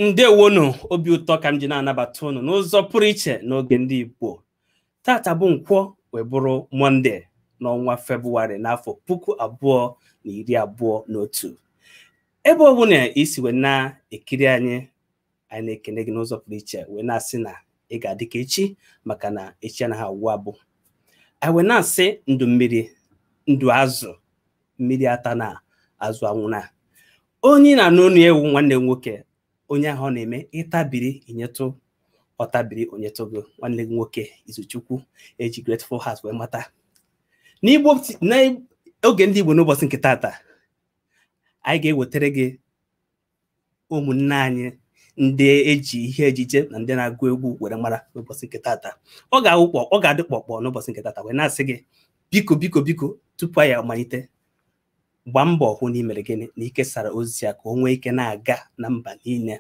ndewonụ obi ụtọ ka m ji na-anabata unu n'ụzọ pụrụ iche n'oge ndị Igbo tata bụ nkwọ wee bụrụ mọnde n'ọnwa febụwarị n'afọ puku abụọ na iri abụọ na otu ebe ọ bụna i si wee na-ekiri anyị anyị na-ekene gị n'ụzọ pụrụ iche wee na-asị na ị ga-adị ka echi maka na echi anaghị agwụ agwụ anyị wee na-asị ndụ mmiri ndụ azụ mmiri atana azụ anwụna onye na-anụ onu ya wụ nwanne gị nwoke onye ahụ ọ na-eme ị tabiri i nyetụ ọ tabiri o nyetụ gị nwanne gị nwoke izuchukwu e ji grateful heart wee mata n'igbo n'oge ndị igbo n'ụbọchị nke tata anyị ga-ewetara gị ụmụnne anyị ndị e ji ihe ejije na ndị na-agụ egwu were mara n'ụbọchị nke tata ọ ga-awụ kpọ ọ ga-adị kpọkpọ n'ụbọchị nke tata wee na-asị gị biko biko biko tupu anyị amalite gbaa mbọ hụ na i mere gịnị na i kesara ozi a ka o nwee ike na-aga na mba niile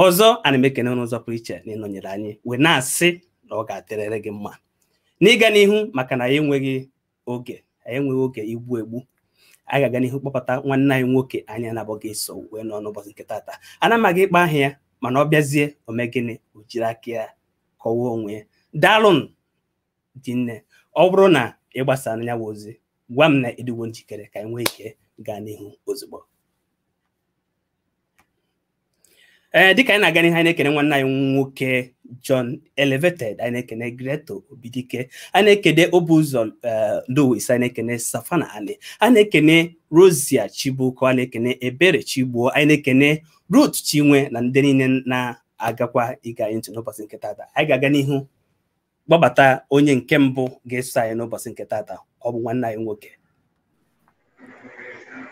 ọzọ ana m ekene n'ụzọ pụrụ iche na ị nọnyere anyị wee na-asị na ọ ga-adịrịrị gị mma n'ịga n'ihu maka na anyị enweghị oge anyị enweghị oge igbu egbu anyị ga-aga n'ihu kpọbata nwanne anyị nwoke anyị na ya ga-eso wee nọ n'ụbọchị nke tata ana m aga ịkpọ aha ya mana ọ bịazie o mee gịnị o jiri aka ya kọwaa onwe ya daalụnụ rinne ọ bụrụ na ị gbasara ya bụ ozi gwa m na ị dịwo njikere ka anyị nwee ike gaa n'ihu ozugbo ee eh, dịka anyị na-aga n'ihu anyị na-ekene nwanne anyị nwoke John Elevated anyị na-ekene Greto Obidike anyị na-ekene Obuzo eh, Louis anyị na-ekene Safana Ali anyị na-ekene Rosia Chibuko anyị na-ekene Ebere Chigbuo anyị na-ekene Ruth Chinwe na ndị niile na-agakwa ige anyị ntị n'ụbọchị nke tata anyị ga-aga n'ihu kpọbata onye nke mbụ ga-eso anyị n'ụbọchị nke tata ọ bụ nwanne anyị nwoke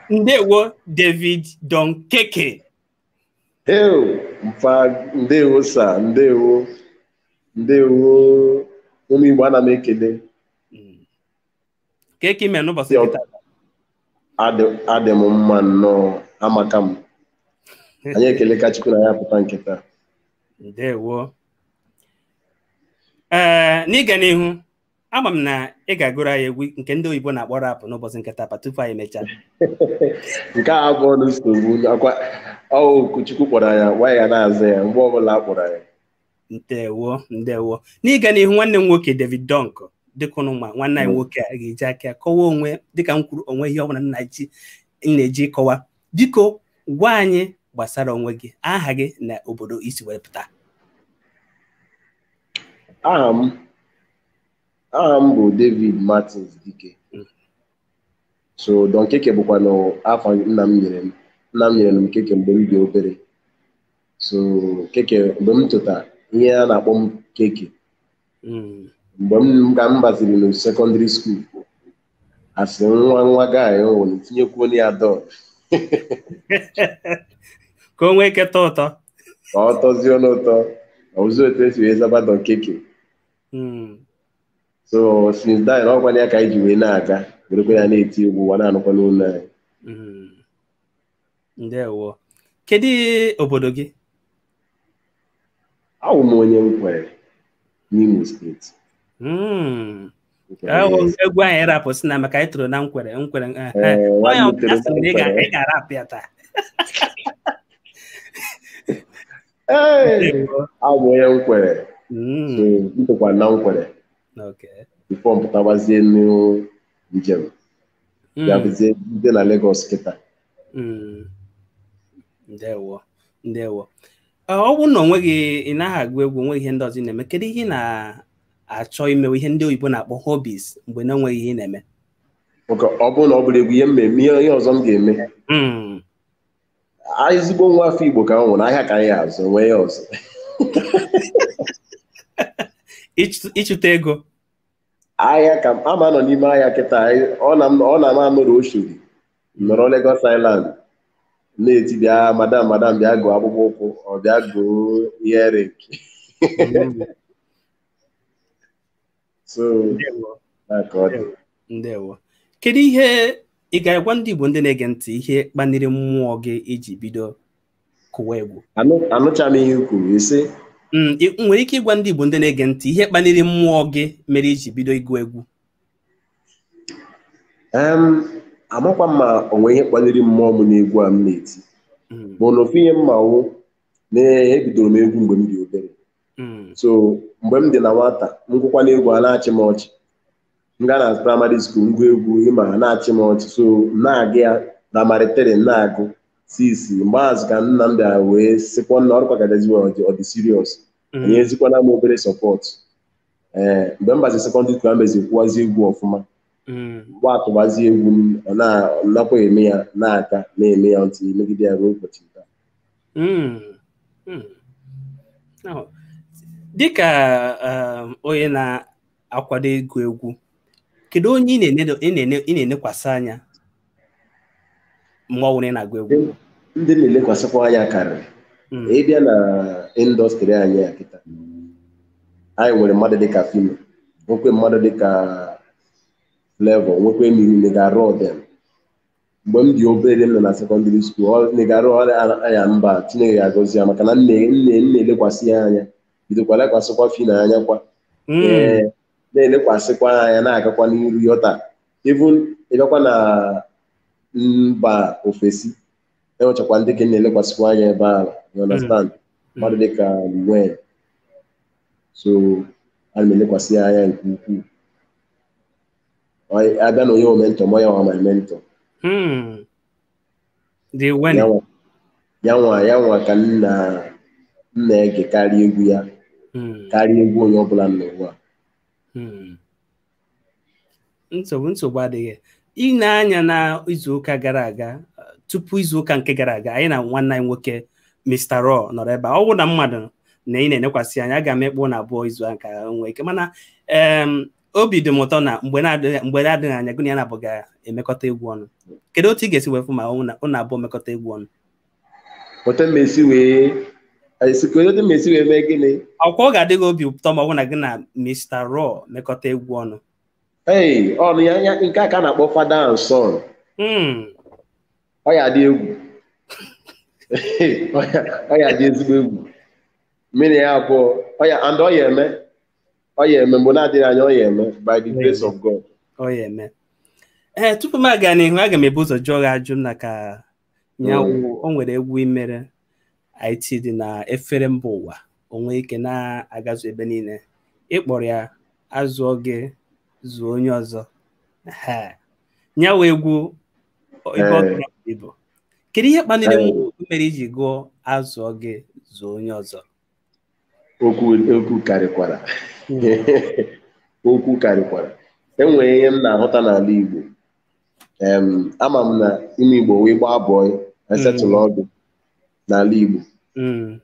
ndewo David Don Keke Ew, mfa ndewo sa ndewo ndewo ụmụ Igbo ana m ekele kee ka i mee n'ụbọchị nke tata adị m mma nnọọ amaka m anyị ekeleka Chukwu na anyị apụta nke taa ndewo ee n'ịga n'ihu ama m na ị ga-agụrụ anyị egwu nke ndị oyibo na-akpọ rap n'ụbọchị nke tata tupu anyị emechaa nke a abụrọ nsogbu ọ kwa oku Chukwu kpọrọ anyị anyị ga na-aza ya mgbe ọbụla a kpọrọ anyị ndewo ndewo n'ịga n'ihu nwanne m nwoke David Don Keke dịka ụnụ ma nwanne anyị nwoke a ga-eji aka kọwa onwe dịka m kwuru onweghị ihe ọ bụla m na-eji kọwa biko gwa anyị gbasara onwe gị aha gị na obodo i si wee pụta aha m aha m bụ David Martins Dike so Don Keke bụkwa na afa nna m nyere m nna m nyere m Keke mgbe m dị obere so Keke mgbe m tota ihe a na-akpọ m Keke Mm. mgbe m ka m baziri na sekọndịrị skuul a sị nwa nwa ka anyị were tinyekwuo na ya Don ka o nwee ike tọọ ụtọ ka ọ tọzie n'ụtọ ọ wụzi otu e si wee zaba Don Keke Mm. so since then ọ wụkwa ya ka anyị ji wee na-aga werekwa ya na-eti egwu ụwa na-anụkwanụ olu anyị Mm. ndewo kedu obodo gị awụ m onye Nkwere n'Imo steeti hmm. egwu anyị rapụ si na maka anyị toro na Nkwere ị ga-arapụ ya taa abụ m onye Nkwere m tokwa hmm. na Nkwere before m pụtabazie njem ya mm. bụzie m dị na Lagos kịta mm. ndewo ndewo ọ bụrụ na onweghị ị naghị agụ egwu onweghị ihe ndị ọzọ ị na-eme kedu ihe ị na-achọ imewe ihe ndị oyibo na-akpọ hobbies mgbe na onweghị ihe ị na-eme ọ bụrụ na ọ bụrọ egwu ihe m na-eme ihe ọzọ m ga-eme hmm. ezigbo nwa afọ Igbo ka m wụnụ ahịa ka anyị azụ o nwee ihe ọzọ ịchụta ego ahịa ka m ama anọ n'ime ahịa kịta ọ na m ama anọrọ Oshodi nọrọ Lagos Island na-eti bịa madam madam bịa goo akpụkpọ ụkwụ or bịa goo earring so Ndewo. na ka ọ dị ndewo kedu ihe ị ga-agwa ndị Igbo ndị na-ege ntị ihe kpaliri mmụọ gị i ji bido kụwa egwu anụcha m ihe i kwuru i si mm, nwere ike ịgwa ndị Igbo ndị na-ege ntị ihe kpaliri mmụọ gị mere i ji bido ịgụ egwu amakwa m ma o nwe ihe kpaliri mmụọ m n'egwu a m na-eti mm. mana ofu ihe m ma wụ na ebidoro m egwu mgbe m dị obere mm. so mgbe m dị na nwata m gụkwanụ egwu a na-achị m ọchị m gaa na praịmarị skuul m gụa egwu ịma ha na-achị m ọchị so m na-aga ya praịmarị tiri m na-agụ since mgbe ahụ ka nna m bịara wee sịkwa nna ọrụ kwagadaziwe ọ dị ọ dị siriọs enyezikwana m obere sọpọt ee mgbe m bazi sekọndịrị skuul amezi kwụwazi egwu ọfụma mgbe atụbazi egwu m ọ na- ọ nakwa eme ya na-aka na-eme ya until m megide ya ruo ụbọchị nke a. Mm. Mm. Now, dịka um, onye na akwado ịgụ egwu kedu onye ị na-enekwasị anya mgbe ọ bụla ị na-agụ egwu ndị m na-elekwasịkwa anya karịrị hmm. ịbịa na indọstrị anyị a kịta anyị nwere mmadụ dịka Phyno nwekwe mmadụ dịka Flavour nwekwe Nigga Raw dem mgbe m dị obere m nọ na sekọndịrị skuul ọ Nigga Raw anya mba Chineke ya agọzi ya maka na m na- m na- m na-elekwasị ya anya bidokwa lekwasịkwa Phyno anya kwa ee na-elekwasịkwa anya na-agakwa n'iru ruo taa even ịbịakwa na mba ofesi enwechakwa ndị m ka na-elekwasịkwa anya ebe ahụ you understand mmadụ dịka Wayne so ana m elekwasị ya anya nke ukwuu Ọ- abịa na onye ọ mentor m ọ ya nwa my mentor Hmm. Lil Wayne. ya nwa ya nwa ya nwa ka m na m na-ege karịa egwu ya Hmm. karịa egwu onye ọbụla n'ụwa Hmm. nsogbu nsogbu adịghị ị nee anya na izuụka gara aga uh, tupu izuụka nke gara aga anyị na nwanne anyị nwoke Mr. Raw nọrọ ebe a ọ bụrụ na m madụ na ị na-enekwasị anya aga m ekpo ụnụ abụọ izu a ka nwee ike mana em, obi dị m ụtọ na mgbe na-adịghị mgbe na-adịghị anya gị na ya na abụọ ga-emekọta egwu ọnụ kedu otu ị ga-esi wee fụ ma ụnụ na- ụnụ abụọ mekọta egwu ọnụ otu m esi wee esi ka otu m esi wee mee gịnị ọkwa ọ ga-adị gị obi ụtọ ma ọ bụ na gị na Mr. Raw mekọta egwu ọnụ ee ọnụ ya ya nke a ka a na-akpọ father and son Mm. ọ ya dị egwu Ọ ya- ọ ya dị ezigbo egwu mmiri ya abụọ ọ ya and ọ ya eme ọ ya eme mgbe na-adịghị anya ọ ya eme by the grace of God ọ ya eme ee tupu m aga n'ihu aga m ebu ụzọ jụọ gị ajụ maka nyanwa o nwere egwu i mere hit dị na-efere mba ụwa o nwee ike na-agazu ebe niile ịkpọrọ ya azụọ gị zụọ onye ọzọ nyanwa egwu ebuola ibu kedu ihe kpaliri mere iji gụọ azụọ gị zụọ onye ọzọ okwu okwu karịkwara okwu karịkwara enwere ihe m na-ahụta n'ala Igbo em ama m na ime Igbo wee gbaa bọị e setụlụọ gị n'ala Igbo Mm.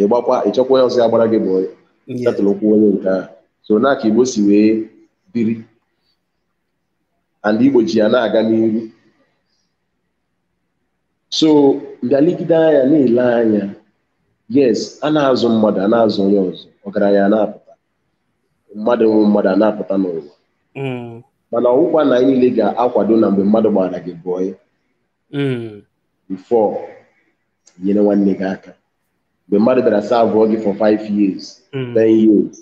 ị gbakwa ị chọkwa onye ọzọ ya gbaara gị bọị Yeah. setụlụkwuo onye nke ahụ so na ka Igbo si wee biri and Igbo ji ya na-aga n'ihu so m bịa legide anya na-ele anya yes a na-azụ mmadụ a na-azụ onye ọzọ ọgaranya a na-apụta mmadụ wụ mmadụ a na-apụta n'ụwa Mm, mana ọ wụkwa na anyị niile ga-akwado na mgbe mmadụ gbaara gị bọị mm, before i nyere nwanne gị aka mgbe mmadụ bịara saavụọ gị for 5 years mm, 10 years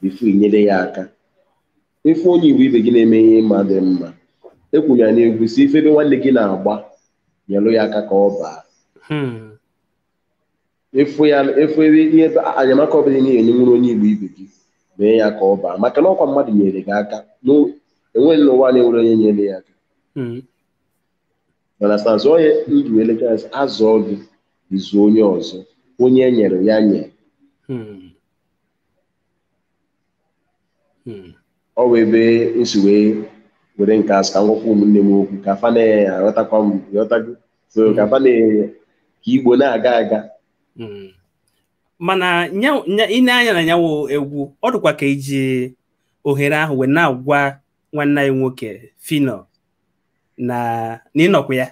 before i nyere ya aka ị fụ onye Igbo ibe gị na-eme ihe ị ma dị mma ekwuru m ya n'egwu sị ị fụ ebe nwanne gị na-agba nyelụ ya aka ka ọ baa Hmm. ị fụ ya ị fụ ebe ihe enyemaka ọbụla ị ya-enyenwuru onye Igbo ibe gị mee ya ka ọ baa maka na ọkwa mmadụ nyere gị aka n'o- enweghị n'ụwa na-enwero onye nyere ya aka Hmm. mana stansi onye ndụ elekere a zụọ gị ị zụọ onye ọzọ onye e nyere ya nye Hmm. hmm. ọ wụ ebe m si wee were nke a sị ka m gwakwa ụmụnne m okwu ka fa na-aghọtakwa m ghọtago so hmm. ka fa nee ka Igbo na-aga aga hmm. mana ị nee anya na ya wụ egwu ọ dịkwa ka i ji ohere ahụ wee na-agwa nwanne anyị nwoke Phyno na ị nọkwa ya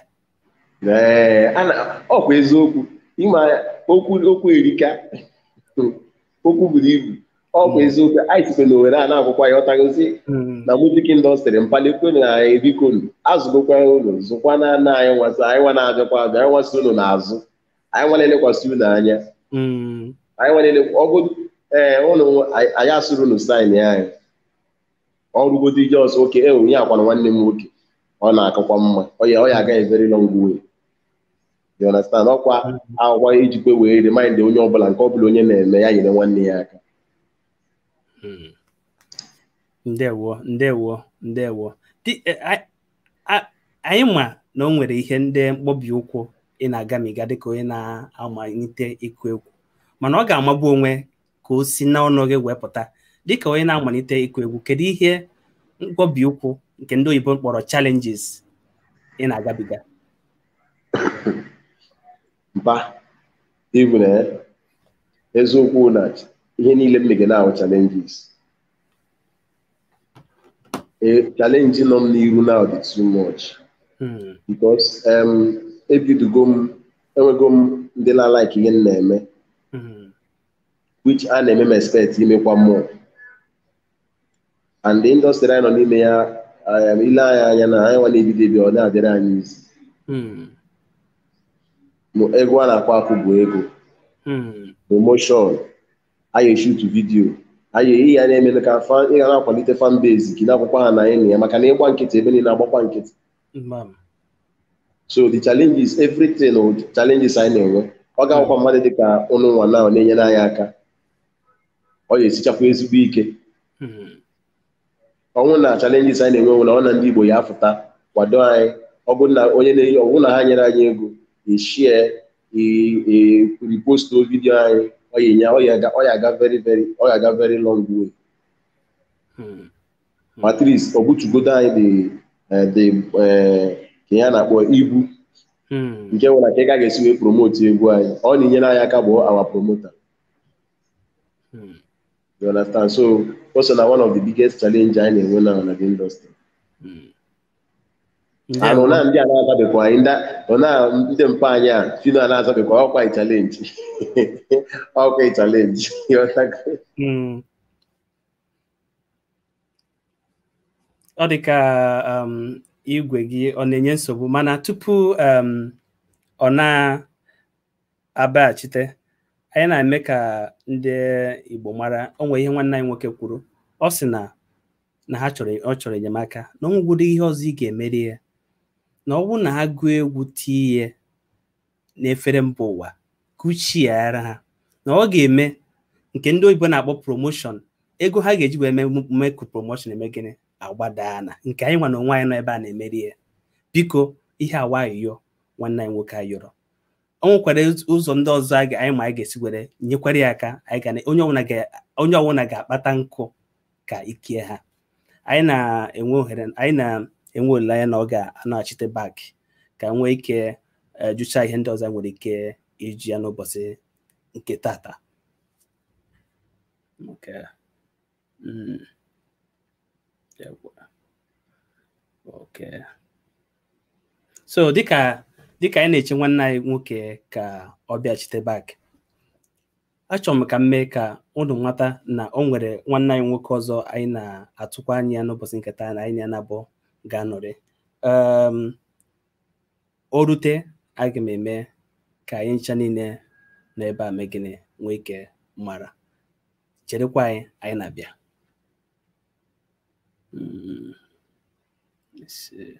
ee a na ọkwa eziokwu ị ma okwu okwu erika okwu buru ibu ọkwa eziokwu anyị site na owere a na-agwụkwa ya ọtagozi Mm. na music industry mkpalikwe na bikonu azụgokwa unu zụkwanụ nụ anyị nwa so anyị nwa na-abịakwa abịa anyị nwa so unu n'azụ anyị nwa na-elekwasị unu anya Mm. anyị nwere ọ bụ ee ụlọ anyị asịrọ unu sign anyị ọ bụrụgodi just okay e onye akwana nwanne m nwoke ọ na-akakwa mma ọ ya ọ ya-aga a very long way you understand ọkwa ọ wụkwa ijikwa wee remind onye ọbụla nke ọbụla onye na-eme ya nyere nwanne ya aka Hmm. ndewo ndewo ndewo Di- eh, a- a- anyị ma na o nwere ihe ndị mkpọbi ụkwụ ị na-agamiga dịka onye na-amalite ịkụ egwu mana ọ ga-amagbu onwe ka o si n'ọnụ gị wee pụta dịka onye na-amalite ịkụ egwu kedu ihe mkpọbi ụkwụ nke ndị oyibo kpọrọ challenges ị na-agabiga mpa even eziokwu na ihe niile m mege na-ahụ challenges challenge nọ m n'iru now dị too much because ebidogo m enwego m ndị na-like ihe m na-eme which a na-eme m expect imekwa more and the industry anyị nọ n'ime ya um, ile anyị anya na anyị nwa na-ebido ebido ọ na-adịrị anyị easy Hmm. Ma egwu a na-akwa akụ bụ ego Hmm. promotion anyị eshutu video anyị ihe ya na-emele ka fan ị ga na-akwalite fan base gị na-akwụkwọ ha na anyị na ya maka na ịgba nkịtị ebe niile agbakwa nkịtị Mm. so the challenges everything wụ challenges anyị na-enwe ọ ga-akwụkwa mmadụ dị ka ụnụ nwa na ọ na-enyere anyị aka ọ ga-esichakwa ezigbo ike Mm. ọ wụ na challenges anyị na-enwe bụ na ọ na ndị Igbo ya afụta kwado anyị ọ bụrụ na onye na-eyi ọ bụrụ na ha nyere anyị ego share repost video anyị ọ ya enye- ọ ya aga- ọ ya aga very very ọ ya aga very long way Mm. ma at least ọ bụtugodo anyị dị eh, dị eh, ka ya na-akpọ ibu Hmm. nke nwere ka ị ka ga-esi wee promote egwu anyị ọ na-enyere anyị aka bụ our promoter Hmm. you understand so o so na one of the biggest challenge anyị na-enwe now na the industry Hmm. anụ na ndị a na-azabekwa anyị ndị ọ na ndị mpa anyị a Phyno a na-azabekwa ọkwa anyị challenge ọkwa anyị challenge You understand? Hmm. ọ dị ka um, igwe gị ọ na-enye nsogbu mana tupu um, ọ na-abaghachite anyị na-eme ka ndị Igbo mara o nwere ihe nwanne anyị nwoke kwuru ọ sị na na ha chọrọ ọ chọrọ enyemaka na ọ nwegwudo ihe ọzọ ị ga-emere ya na ọ bụrụ na ha gụọ egwu tinye n'efere mba ụwa kuchiara ha na ọ ga-eme nke ndị oyibo na-akpọ promotion ego ha ga-eji wee mee ka promotion eme gịnị agbadaa na nke anyị nwa na onwe anyị nọ ebe a na-emere ya biko ihe awa ayọ nwanne anyị nwoke ayọrọ ọ nwekwara ụzọ ndị ọzọ anyị ma anyị ga-esi were nyekwara ya aka anyị ga onye ọbụla ga-akpata nkụ ka ike ya ha anyị na anyị na-enwe olileanya na ọ ga-anaghachite back ka nwee ike eh, jụcha ihe ndị ọzọ nwere ike ịjụ ya n'ụbọchị nke tata okay. mm. okay. so dịka dịka anyị na-eche nwanne anyị nwoke ka ọ bịachite back achọrọ m ka m mee ka ụnụ mata na o nwere nwanne anyị nwoke ọzọ anyị na-atụkwa anya ya n'ụbọchị nke taa na anyị ya naabọ ga-anọrị um, o rute aga m eme ka anyị ncha niile na ebe a mee gịnị nwee ike mara cherekwa anyị anyị na-abịa Mm, let's see.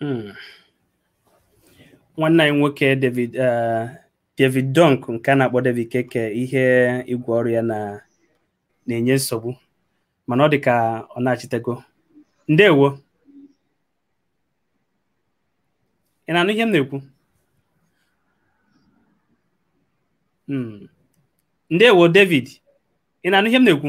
Hmm. nwanne anyị nwoke David eh, David Dunk nke a na-akpọ David Keke ihe igwe ọrụ ya na na-enye nsogbu mana ọ dị ka ọ nachitego ndewo ị na-anụ ihe m na-ekwu hmm. ndewo David ị na-anụ ihe m na-ekwu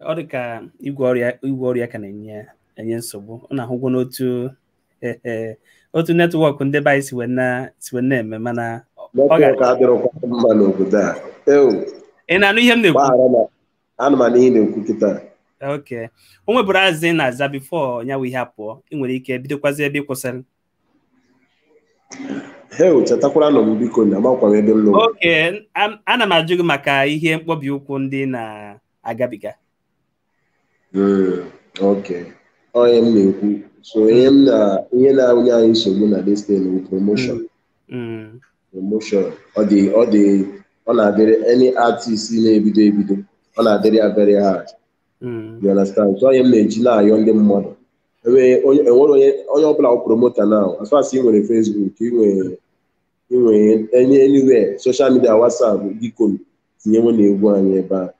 ọ dị ka igwe ọrụ ya igwe ọrụ ya ka na-enye enye nsogbu ụnụ ahụgwonụ otu otu network ndị be anyị si wee na- si wee na-eme mana ọ ga- network adịrọkwa mma n'obodo a ewu ị na-anụ ihe m na-ekwu gbaghara na ana m anụ ihe ị na-ekwu kịta okay o nweburu azị ị na-aza before ya wụ ihe apụọ ị nwere ike bidokwazi ebe ị kwụsịrị Heo, chetakwaranụ m biko na amakwa m ebe m nọ. okay am- ana m ajụ gị maka ihe mkpọbi ụkwụ ndị ị na-agabiga Mm, Okay. Ọ ihe m na-ekwu. So ihe m na ihe na-awụnye anyị nsogbu na this thing bụ promotion. Mm, Promotion. Ọ dị ọ dị ọ na-adịrị any artist na-ebido ebido. Ọ na-adịrị ya very hard. Mm. you understand so ọ ihe m na-eji na-ayọ ndị mmadụ enwere onye enwere onye onye ọbụla wụ promoter now as far as ị nwere Facebook ị nwere ị nwere any anywhere social media WhatsApp biko tinyewenụ egwu anyị ebe a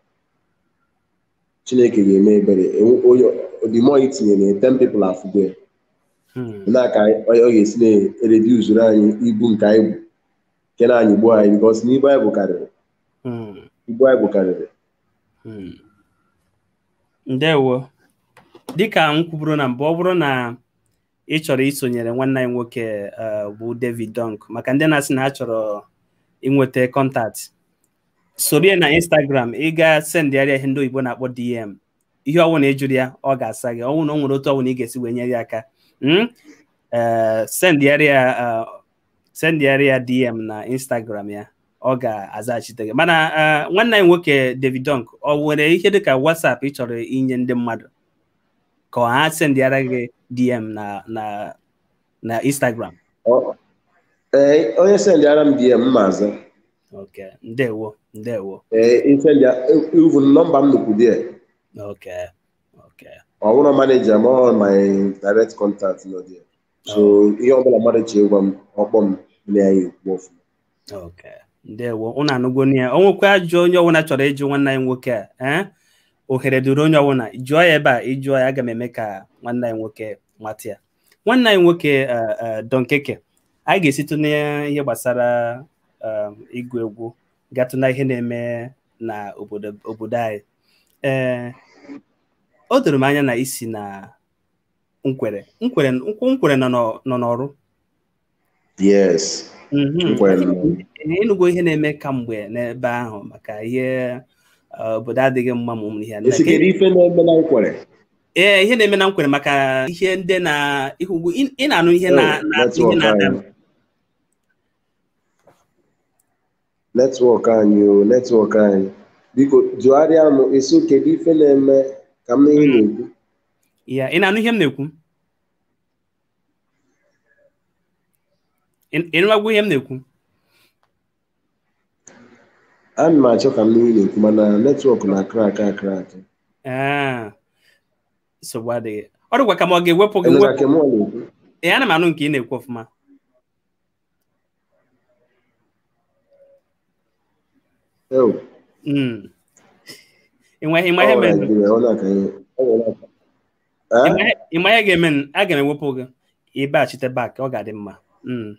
Chineke ga-eme ebere Enwe- onye the more i tinyere 10 people afụgo ya Mm. na ka anyị- onye ọ ga-esi na-ereduzuru anyị ibu nke anyị bu nke na-anyịgbu anyị because na ibu anyị bu karịrị Mm. ibu anyị bu karịrị Hmm. ndewo dịka m kwuburu na mbụ ọ bụrụ na ị chọrọ isonyere nwanne anyị nwoke eh, bụ David Dunk maka ndị na-asị na ha chọrọ inweta contact soro ya na Instagram ị ga sendịara ya ihe ndị oyibo na-akpọ DM ihe ọwụna ị jụrụ ya ọ ga-asa gị ọ wụ na o nwere otu ọwụna ị ga-esi wee nyere ya aka hmm? eh, sendịara ya eh, sendịara ya DM na Instagram ya ọ ga-azaghachite gị mana eh, nwanne anyị nwoke David Dunk ọ nwere ihe dịka WhatsApp ị chọrọ inye ndị mmadụ ka ha sendịara gị DM na na na Instagram eh, onye sendịara m DM m aza okay ndewo ndewo ee eh, i sendịa even nọmba m nọkwu dịa okay okay ọ bụrọ maneja m ọ my direct contact nọ dị so ihe ọbụla mmadụ chọ ịgwa m ọ kpọọ m na ya ekwu ọfụma okay ndewo ụnụ anụgonụ ya o nwekwa ajụjụ onye ọbụla chọrọ ịjụ nwanne anyị nwoke a ee eh? ohere dịịrị onye ọbụla jụọ ya ebe a ị jụọ ya aga m eme ka nwanne anyị nwoke mata ya nwanne anyị nwoke eh, eh, Don Keke anyị ga-esitụ n'ihe gbasara um, ịgụ egwu gatụ na ihe na-eme na obodo anyị ee o doro m anya na i si na Nkwerre Nkwerre Nkwerre nọ n'Orlu yes mhm. ị nụgo ihe na-eme kamgbe n'ebe ahụ maka ihe uh, obodo adịghị mma ma ụmụ ihe ee ihe na-eme na Nkwerre maka ihe ndị na ihu ugwu ị na-anụ ihe oh, na-ada netwọk anyị o oh, netwọk anyị biko jụgharịa m ị sị kedu ife na-eme ka m nụ ihe ị na-ekwu ya ị na-anụ ihe m na-ekwu ị nụwago ihe m na-ekwu ana m achọ ka m nụ ihe ị na-ekwu mana netwọk na-akrak akrak nsogbu adịghị ọ dịkwa ka m ga-ewepụ gị wepụ ee ana m anụ nke ị na-ekwu ọfụma Ewu, Mm. Ị ma- ị ma ihe ọ mere- Naịjirịa, ọ na-aka ihe. Ọ nwere aka. ị Eh? ma ihe- ị ma ihe ga-eme n- aga m ewepụ gị ị baghachite bak ọ ga-adị mma Mm.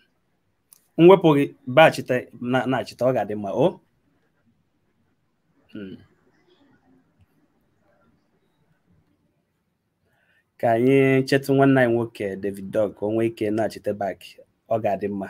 m wepụ gị baghachite na- nachita ọ ga-adị mma o Mm. ka anyị chetụ nwanne anyị nwoke David Dog ka o nwee ike nachite bak ọ ga-adị mma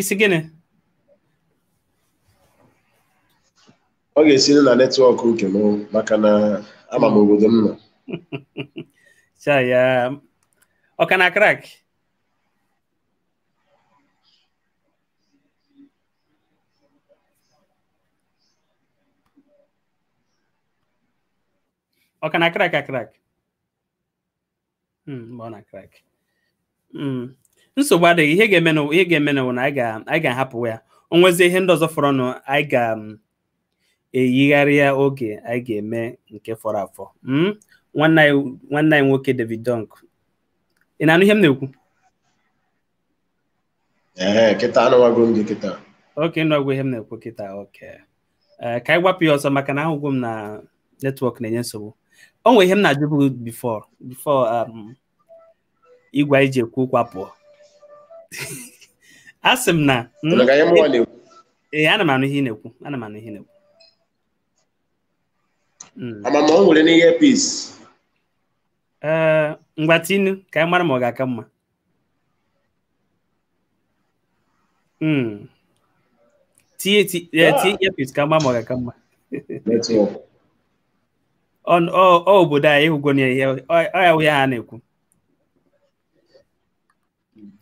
ị sị gịnị ọ ga-esiri na netwọk nke m maka na ama m obodo m nọ cha ya ọ ka na-akrak ọ ka na-akrak akrak mgbe ọ na-akrak nsogbu adịghị ihe ga-eme na ihe ga-emenụ na anyị ga-ahapụ ya o nwezie ihe ndị ọzọ fọrọnụ anyị ga-eyigharị ya oge anyị ga-eme nke fọrọ afọ nwanne anyị nwoke David Dunk ị na-anụ ihe m na-ekwu ee kịta anụwago m gị kịta oke ị nụgwo ihe m na-ekwu kịta oke ee ka anyị gbapụ ya ọsọ maka na ahụgwo m na netwọk na-enye nsogbu o nwere ihe m na-ajụbu bifọ bifọ igwe anyị ji ekwu okwu apụọ a sị m ị na-anụkwa ihe mụnwa na-ekwu ee ana m anụ ihe ị na-ekwu ana m anụ ihe ị na-ekwu Mm. ama m ma i nwere earpiece ee ngwa tienụ ka anyị mara ma ọ ga-aka mma Mm. Tie tie yeah. tie earpiece ka m maa ma ọ ga-aka mma. Network. On ọ ọ obodo anyị ị hụgonụ ihe ọ ya wụ ihe a ha na-ekwu.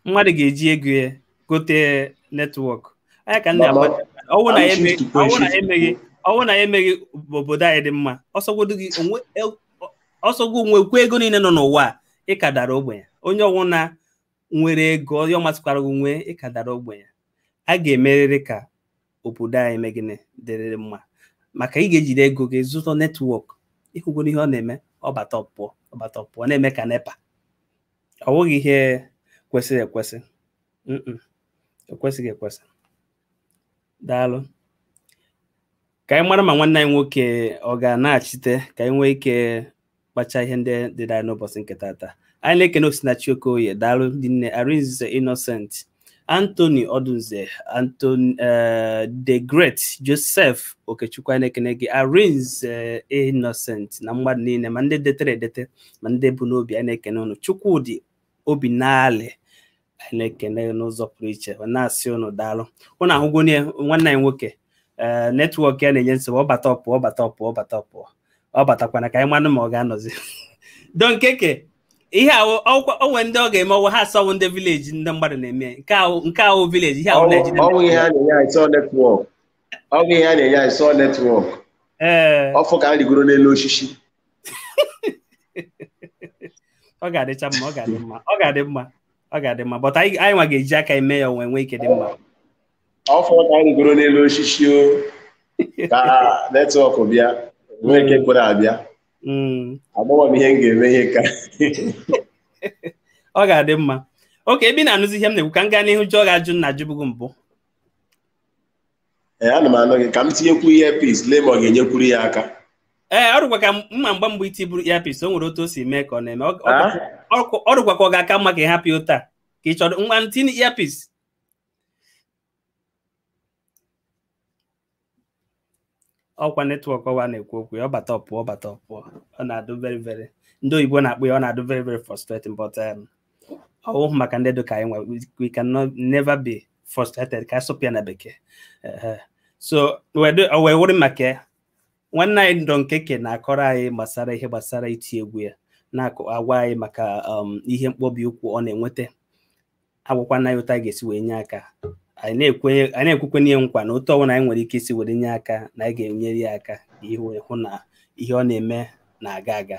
Mmadụ ga-eji ego ya gote netwọk. Anya ka nna agba ọ wụ na anyị emeghị ọ wụ na anyị emeghị obodo anyị dị mma ọ sọgwodu gị nwee ọ sọ gị nwekwa ego niile nọ n'ụwa ị ka dara ogbenye onye ọ wụna nwere ego onye ọ masịkwara gị nwee ị ka dara ogbenye a ga-emerịrị ka obodo anyị mee gịnị dịrịrị mma maka ị ga-ejiri ego gị zụta netwọk ị hụgonụ ihe ọ na-eme ọ bata ọ pụọ ọ bata ọ pụọ na-eme ka NEPA ọ bụghị ihe kwesịrị ekwesị ekwesịghị ekwesị daalụ ka anyị mara ma nwanne anyị nwoke ọ ga-anaghachite ka anyị nwee ike kpachaa ihe ndị dịrị anyị n'ụbọchị nke tata anyị na-ekene Osinachi Okoye daalụ rinne Arinze Innocent Anthony Odunze Anthony eh, the Great Joseph Okechukwu anyị na-ekene gị Arinze Innocent na mmadụ niile ma ndị detere edete ma ndị bu n'obi anyị na-ekene ụnụ Chukwudi Obinali anyị na-ekene gị n'ụzọ pụrụ iche wee na-asị ụnụ daalụ ụnụ ahụgonụ ihe nwanne anyị nwoke ee netwọk ya na-enye nsogbu ọ bata ọ pụọ ọ bata ọ pụọ ọ bata ọ pụọ ọ batakwana ka anyị manụ ma ọ ga-anọzi don keke ihe ahụ ọ kwa o nwe ndị ọ ga-eme ọ wụ ha asị ọ wụ ndị vileji ndị mmadụ na-eme nke ahụ nke a wụ vileji ihe a wụ Naijiria ọ wụ ihe a na-enye anyị sọ netwọk ọ wụ ihe a na-enye anyị sọ netwọk ee ọ fọ ka m rigoro n'elu osisi ọ ga-adịcha mma ọ ga-adị mma ọ ga-adị mma ọ ga-adị mma but anyị anyị nwa ga-eji aka eme ya o wee nwee ike dị mma ọ fọrọ ka anyị rigoro n'elu osisi o ka netwọk bịa nwee ike kwere abịa Mm, agbawa m ihe m ga-eme ihe ka ọ ga-adị mma okay ebe ị na-anụzi ihe m na-ekwu ka m gaa n'ihu jụọ gị ajụ m na-ajụbu gị mbụ ee ana m anụ gị ka m tinyekwu earpiece lee ma ọ ga-enyekwuru ya aka ee ọ dịkwa ka mma mgba mgbe i tiburu earpiece o nwere otu o si mee ka ọ na-eme Ọ- ọ- Ah? ọ- ọ dịkwa ka ọ ga-aka mma ka ị hapụ ya otu a ka ị chọrọ ngwa tinye earpiece ọkwa netwọk ahụ a na-ekwu okwu ya ọ bata ọ pụọ ọ bata ọ pụọ ọ na-adụ very very ndị oyibo na-akpọ ya ọ na-adụ very very frustrating but um, ọ wụhụ maka ndị dị ka anyị nwa we can never be frustrated ka a sụpụ ya na bekee so o wee wụrụ maka nwanne anyị Don KK na-akọrọ anyị gbasara ihe gbasara iti egwu ya na-agwa anyị maka um, ihe mkpọbi ụkwụ ọ na-enweta agwakwa anyị otu anyị ga-esi wee nye aka anyị na-ekwekwanụ ya nkwa na otu ọbụla anyị nwere ike isi were nye aka na anyị ga-enyere ya aka ịhụ na ihe ọ na-eme na-aga aga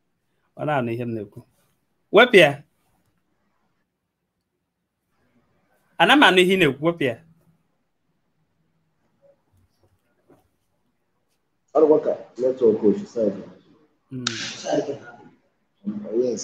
ị na-anụ ihe m na-ekwu wepụ ya ana m anụ ihe ị na-ekwu wepụ ya ọ dịkwa ka netwọk o si side Mm. yes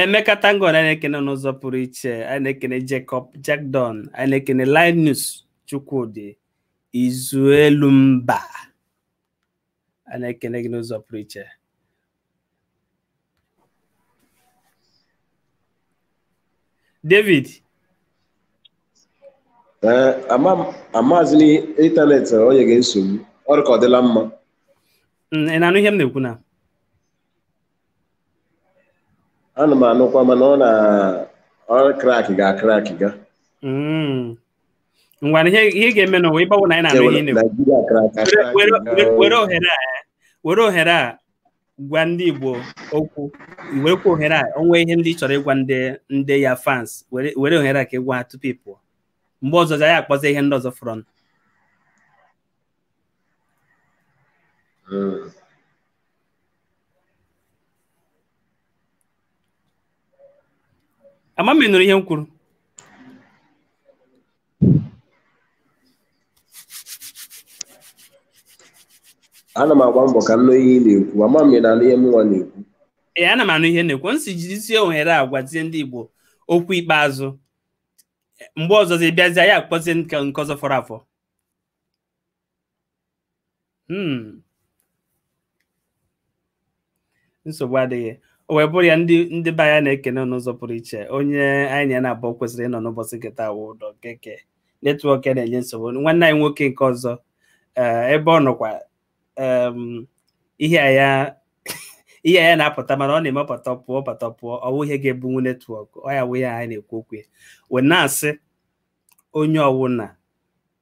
Emeka Tango anyị na-ekene n'ụzọ pụrụ iche anyị na-ekene Jacob Jackdon anyị na-ekene Linus Chukwudi Izuelu Mba anyị na-ekene gị n'ụzọ pụrụ iche David Ee, ama m- amazi m ịntanetị o nyega nsogbu ọ dị ka ọ dịla mma mm, ị na-anụ ihe m na-ekwu na ana m anụkwa mana ọ na ọ crack ga crack ga Mm. ngwa na ihe ihe ga-eme nụ wụ ebe ọ wụ na anyị na-anụ ihe ị na-ekwu. Naijiria crack Were- were- were- were ohere a eh, were ohere a gwa ndị Igbo okwu i werekwa ohere a o nwee ihe ndị ị chọrọ ịgwa ndị ndị your fans were were ohere a ka ị gwa ha tupu ị pụọ mgbe ọzọ anyị akpọzi ihe ndị ọzọ fọrọ nụ. Mm. ama m ma ị nụrụ ihe m kwuru ana m agba mbọ ka m nụ ihe ị na-ekwu ama m na ihe mụnwa na-ekwu ee ana m anụ ihe ị na-ekwu m sị jizie ohere a gwazie ndị Igbo okwu ikpeazụ mgbe ọzọzi ị bịazie anyị akpọzie nke ọzọ fọrọ afọ Hmm. nsogbu adịghị o wee bụrụ ya ndị ndị be anyị na-ekene n'ụzọ pụrụ iche onye anyị na ya na-abụọ kwesịrị ịnọ n'ụbọchị nketa wụ Don KK netwọk ya na-enye nsogbu nwanne anyị nwoke nke ọzọ eh, ebe ọ nọkwa em, ihe a ya ihe a ya na-apụta mana ọ na-eme pụta pụọ pụta pụọ ọ wụ ihe ga-ebunwu netwọk ọ ya wụ ihe anyị na-ekwu okwu ya wee na-asị onye ọwụna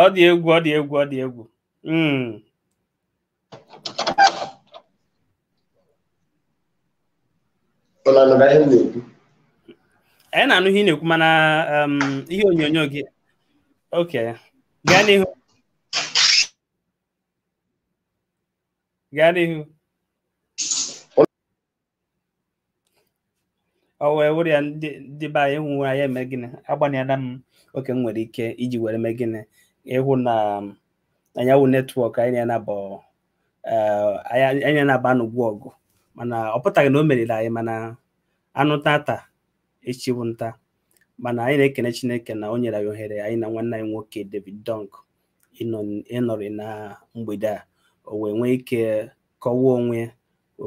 ọ dị egwu ọ dị egwu ọ dị egwu Mm. Ọ na-anụ na ihe m na-ekwu. anyị na-anụ ihe ị na-ekwu mana um, ihe onyonyo gị okay gaa n'ihu gaa n'ihu ọ wee wụrụ ya ndị ndị be anyị hụ anyị eme gịnị agbalịala m oke m nwere ike iji were mee gịnị ịhụ na anya wụ netwọk anyị na ya naabọ anyị na-anaba n'ọgbọ ọgụ mana ọ pụtaghị na o meriri anyị mana anụ tata echi bụ nta mana anyị na-ekene Chineke na o nyere anyị ohere anyị na nwanne anyị nwoke David Dunk ịnọrị na mgbede a o wee nwee ike kọwaa onwe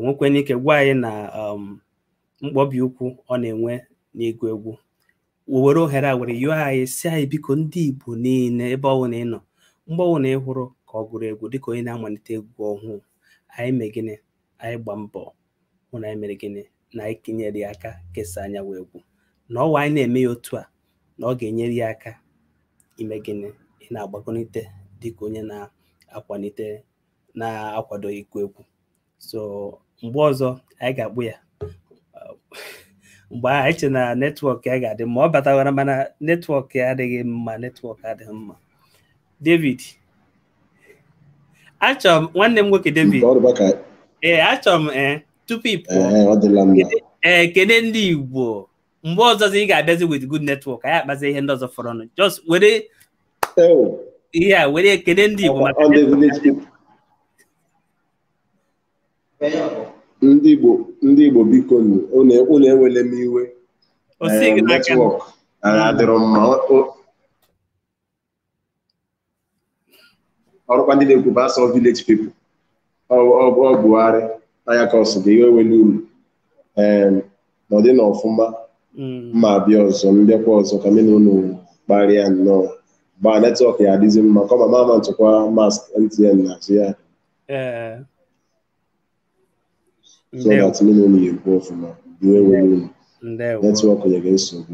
nwekwanụ ike gwa anyị na um, mkpọbi ụkwụ ọ na-enwe n'ịgụ egwu were ohere a were yọọ anyị sị anyị biko ndị Igbo niile ebe ọ bụla ị nọ mgbe ọbụla ị hụrụ ka ọ gụrụ egwu dịka onye na-amalite egwu ọhụụ anyị mee gịnị anyị gbaa mbọ hụ na anyị mere gịnị na anyị kenyere ya aka kesaa anya wụ egwu na ọwa anyị na-eme ya otu a na ọ ga-enyere ya aka ime gịnị ịna-agbagonite dịka onye na-akwalite na-akwado ịgụ egwu so mgbe ọzọ anyị ga-akpọ ya mgbe anyị che na netwọk ya ga-adị mma ọ batawara mana netwọk ya adịghị mma netwọk adịghị mma David achọrọ m nwanne m nwoke David ee achọrọ m ee eh, tupu ị pụọ ee eh, kene ndị Igbo mgbe ọzọzi ị ga-abịazi with good network anyị akpazi ihe ndị ọzọ fọrọnụ just were ihe a were kene ndị Igbo maka ndị Igbo ndị Igbo bikonụ, unu unu ewele m iwe O sighị n'aka. netwọk adịrọ mma O- o- ọ bụkwa ndị na-ekwu bụ asọ village people ọ ọ- ọ Buhari anya ka ọsụ gị iwe ewele unu ee nọdịnụ ọfụma m ma-abịa ọzọ m bịakwa ọzọ ka mụ na unu kparịa nnọọ mgbe netwọk ya-adịzi mma kọma ma ama ntụkwa mast MTN n'azụ ya ee so that mụ na unu ya-ekwu ọfụma iwe ewele unu ndewo netwọk nyere nsogbu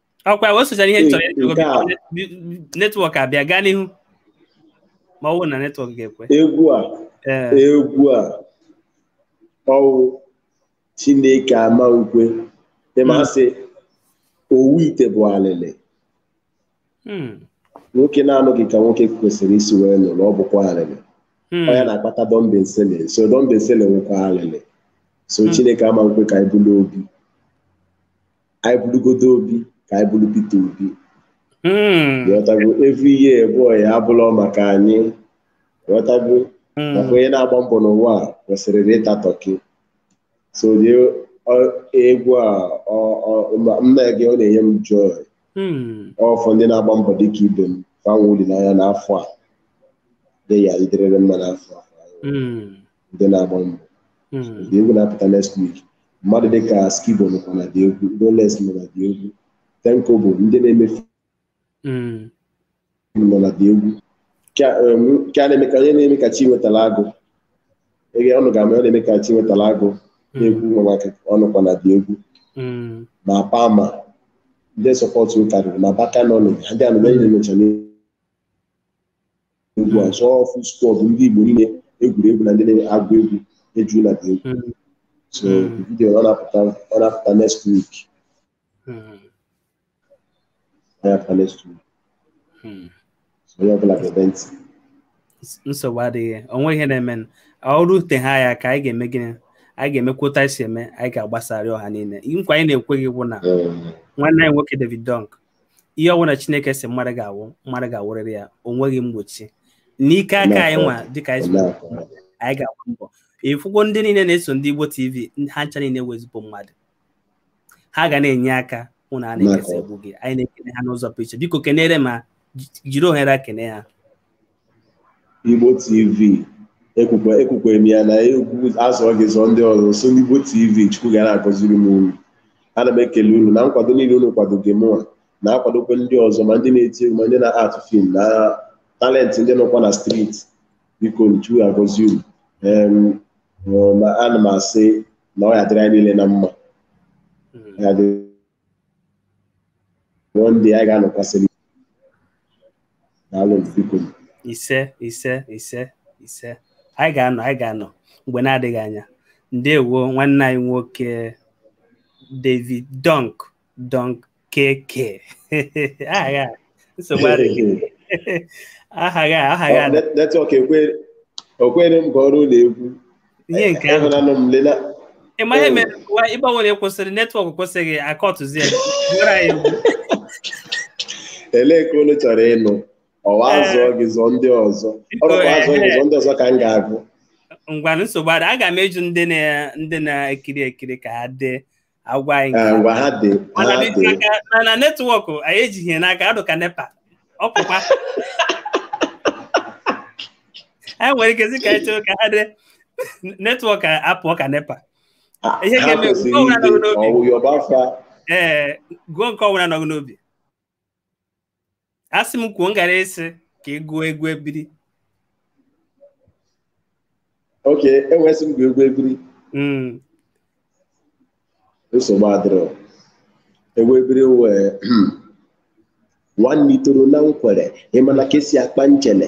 ọkwa o sochara ihe nchọrọ Ee, nke a. netwọk abịa gaa n'ihu ma ọ bụrụ na netwọk ga-ekwe egwu a Ee, egwu a ọ wụ Chineke ama ukwe ị ma sị owu ite bụ alịlị hmm, nwoke na-anọghị ka nwoke kwesịrị isi wee nọrọ ọ bụkwa alịlị hmm, ọ ya na-akpata dọmbensele so dọmbensele wụkwa alịlị so Hmm. Chineke ama ukwe ka anyị bụrụ obi anyị bụrụgodo obi ka anyị bụrụ Peter Obi hmm. ghọtago every year boy abụlọ maka anyị ghọtago hmm. maka onye na-agba mbọ n'ụwa kwesịrị ịta tọki so egwu a mma gị ọ na-enye m joy hmm. ọ for ndị na-agba mbọ dịka ibe m fa nwee olileanya n'afọ a dị ya ịdịrịrị mma n'afọ a ndị na-agba mbọ hmm. the egwu na-apụta next week mmadụ dịka Skibo nọkwa na the egwu roles nọ na the egwu Tenko bụ ndị na-eme hmm. nọ na the egwu nke a na-eme ka onye na-eme ka Chinwetara Agụ ege unu ga-ama ọ na-eme ka Chinwetara Agụ hmm. na-egwu nwa maka ọ nọkwa na the egwu ma pama ndị support karịrị ma baka nọ ha ndị anụ na-emecha egwu a so ọ full squad ndị Igbo niile egwuregwu na ndị na-agụ egwu eju na the egwu Mm. so Mm. the video ọ na-apụta ọ na-apụta next week Mm. ọ na-apụta next week Mm. so onye ọbụla gebe ntị nsogbu adịghị o nweghị ihe na-eme o rute anyị aka anyị ga-eme gịnị anyị ga-emekwa otu anyị si eme anyị ga-agbasarị ọha niile nkwa anyị na-ekwe gị bụ na Ee, nwanne anyị nwoke David Don K ihe ọbụla Chineke sị mmadụ ga-awụ mmadụ ga-awụrịrị ya o nweghị mgbochi n'ike aka anyị nwa dịka anyị anyị ga-agba mbọ ịfụgo ndị niile na-eso ndị Igbo TV ha ncha niile wee zipụ mmadụ ha ga na-enye aka hụ na a na-ekesa egwu gị anyị na-ekene ha n'ụzọ pụrụ iche biko kenere ma jiri ohere a kene ha Igbo TV ekwukwe ekwukwe m ya na egwu a zọọ gị zọọ ndị ọzọ so n'Igbo TV Chukwu ga na-agọziri m unu ana m ekele unu na nkwado niile unu kwadoge mụa na-akwadokwa ndị ọzọ ma ndị na-eti egwu ma ndị na-act film na talent ndị nọkwa na street biko Chukwu agọzi unu Em, ma ana m asị na ọ ya-adịrị anyị niile na mma ya dịrị One day anyị ga-anọkwasịrị daalụ biko ise ise ise ise anyị ga-anọ anyị ga-anọ mgbe na-adịghị anya ndewo nwanne anyị nwoke David Don Don KK aha ya nsogbu adịghị aha ya aha ya netwọk ekwere m kụọrọ unu egwu ihe nke ahụ Ịhụnanụ m lela. ị ma ihe mere ụwa ịgbanwere kwụsịrị netwọk kwụsịghị akọtụzie gwara ya egwu. Elee nke unu chọrọ ịnụ? Ọ wụ Ee. azụọ gị zụọ ndị ọzọ. Ọ bụkwa azụọ gị zụọ ndị ọzọ ka m ga-agụ. ngwanụ nsogbu adịghị aga m ajụ ndị na ndị na-ekiri ekiri ka ha dee agwa anyị nke ngwa ha dị mana ha dị dị n'aka- mana netwọkụ anyị ejighị ya n'aka ọ dụ ka nepa ọ pụkwa anyị nwere ike sị ka anyị chọrọ ka ha dee netwọk apụọ ka nepa ha ihe ha ga-eme kwesịrị gụọ ide n'obi ọwụ yọba afa ee gụọ nke ọbụla nọ gị n'obi asị m kwuo m gara ịsị ka ị gụọ egwu ebiri okay ebe ị sị m gụọ egwu ebiri mm. nsogbu adịrọ egwu ebiri wee nwanne itoro na nkwere ị mana ka e si akpa nchele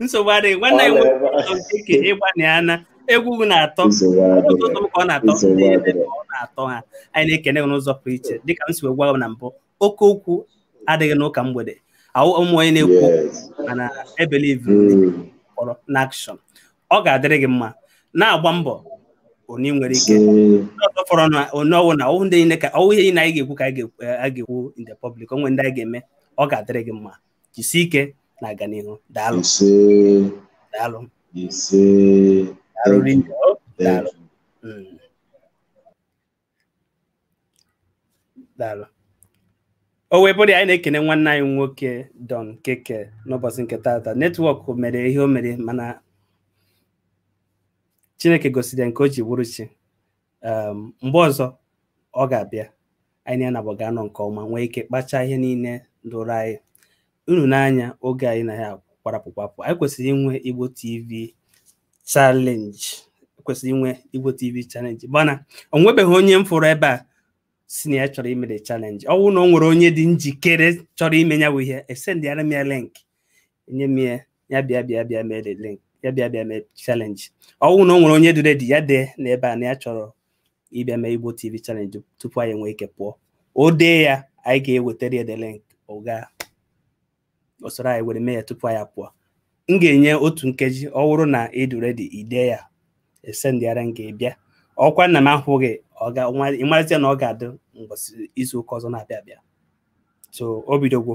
nsogbu adịghị nwanne anyị nwoke nke ị gbalịala egwu gị na-atọ nsogbu adịghị ụtọ m ka ọ na-atọ Nsogbu ndị ebe adịghị. ka ọ na-atọ ha anyị na-ekene gị n'ụzọ pụrụ iche dịka m si wee gwa gị na mbụ oke okwu adịghị n'ụka mgbede awụghị m onye na-ekwu okwu yes mana e believe Mm. kpọrọ n'action ọ ga-adịrị gị mma na-agba mbọ o nwere ihe Mm. ọzọ fọrọ na onye ọwụ na ọwụ ndị niile ka ọwụ ihe niile anyị ga-ekwu ka anyị ga-ekwu- anyị ga-ekwu in the public o nwe ndị anyị ga-eme ọ ga-adịrị gị mma jisie ike na-aga n'ihu daalụ ise daalụ ise daalụ thank rinne you o thank daalụ you Mm, daalụ o wee bụrụ ya anyị na-ekene nwanne anyị nwoke Don KK n'ụbọchị nke taata netwọk mere ihe o mere mana chineke gosiri ya nke o ji bụrụ chi um, mgbe ọzọ ọ ga-abịa anyị na ya naabọ ga-anọ nke ọma nwee ike kpachaa ihe niile dụrụ anyị unu n'anya oge anyị na ya kwarapụ kwapụ anyị kwesịrị inwe Igbo TV challenge kwesịrị inwe Igbo TV challenge mana o nwebeghị onye m fụrụ ebe a sị na ya chọrọ ime the challenge ọ bụrụ na o nwere onye dị njikere chọrọ ime ya bụ ihe esendịara m ya link nye m ya ya bịa bịa bịa mee the link ya bịa bịa mee challenge ọ wụ na o nwere onye dị ready ya dee na ebe a na ya chọrọ ịbịa mee Igbo TV challenge tupu anyị nwee ike pụọ o dee ya anyị ga-ewetara ya the link ọ gaa o soro anyị were mee ya tupu anyị apụọ m ga-enye otu nkeji ọ wụrụ na ị dụ ready i dee ya esendịara m gị ị bịa ọkwa na m ahụghị ị marazia na ọ ga-adị mbọsị izu ụka ọzọ na-abịa abịa so o bidogwo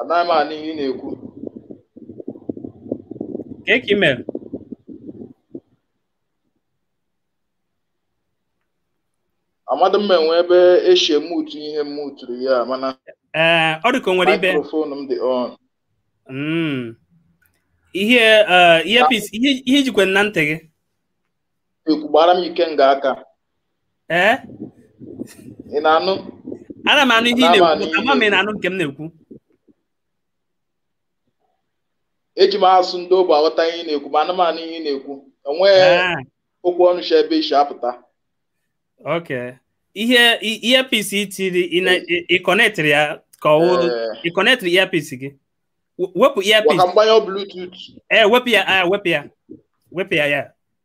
anaghị m anụ ihe ị na-ekwu Kee ka ị mere? amadị m ma e nwee ebe e shi emutu ihe m muturu ya mana Ee, ọ dị ka o nwere ibe. microphone m dị on Mm. Ihe eh, earpiece, ihe ihe i jikwe na ntị gị. ekwu gbara m ike nga aka ee ị na-anụ ana m anụ ihe ị Ana m anụ na-ekwu ihe ama m ị na-anụ nke m na-ekwu eji m asụsụ ndị ogbi aghọta ihe ị na-ekwu ma ana m anụ ihe ị na-ekwu enweghị Ah, okwu ọnụ shi ebe i si apụta okay ihe i- earpiece i tiri ị na- ị- ị connectịrị ya ka ọ wụrụ Ee, ị connectịrị earpiece gị We- wepụ ngwa ka earpiece m gbanyụọ bluetooth ee wepụ ya ah, wepụ ya wepụ ya ya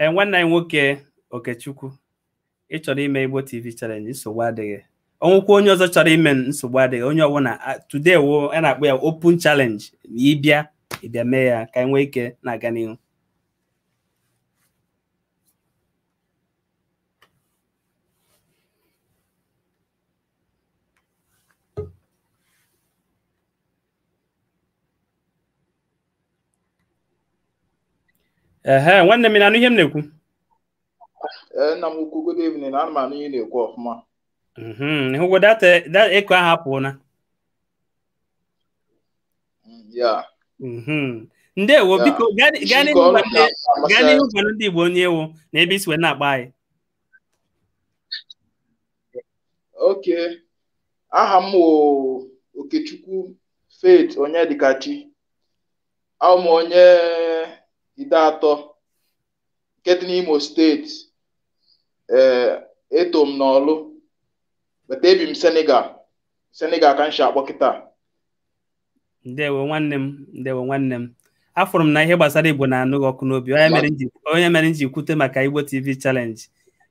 ee nwanne anyị nwoke okechukwu ị chọrọ ime igbo tv challenge nsogbu adịghị o nwekwa onye ọzọ chọrọ ime nsogbu adịghị onye ọbụla today wụ a na-akpọ ya open challenge ma ị bịa ị bịa mee ya ka anyị nwee ike na-aga n'ihu ehe nwanne m ị na-anụ ihe m na-ekwu Ee, nna m ukwu good evening ana m anụ ihe ị na-ekwu ọfụma Mhm, ị hụgo that that echo ahụ apụọna Mm, ya Mhm. ndewo Ya. biko gaa gaa Isi n'ihu ọrụ gwa ndị- na- gaa amasị n'ihu gwa ndị Igbo onye ị wụ na ebe i si wee na-akpọ anyị okay aha m wụ Okechukwu Faith Onyedikachi awụ m onye Ideato nke dị n'Imo steeti ee eto m n'Ọlụ but ebi m Senegal Senegal ka m shi akpọ kịtaa ndewo nwanne m ndewo nwanne m afụrụ m na ihe gbasara igbo na-anụ gị ọkụ n'obi ọ nya mere m ji ọ nya mere m ji kwute maka igbo tv challenge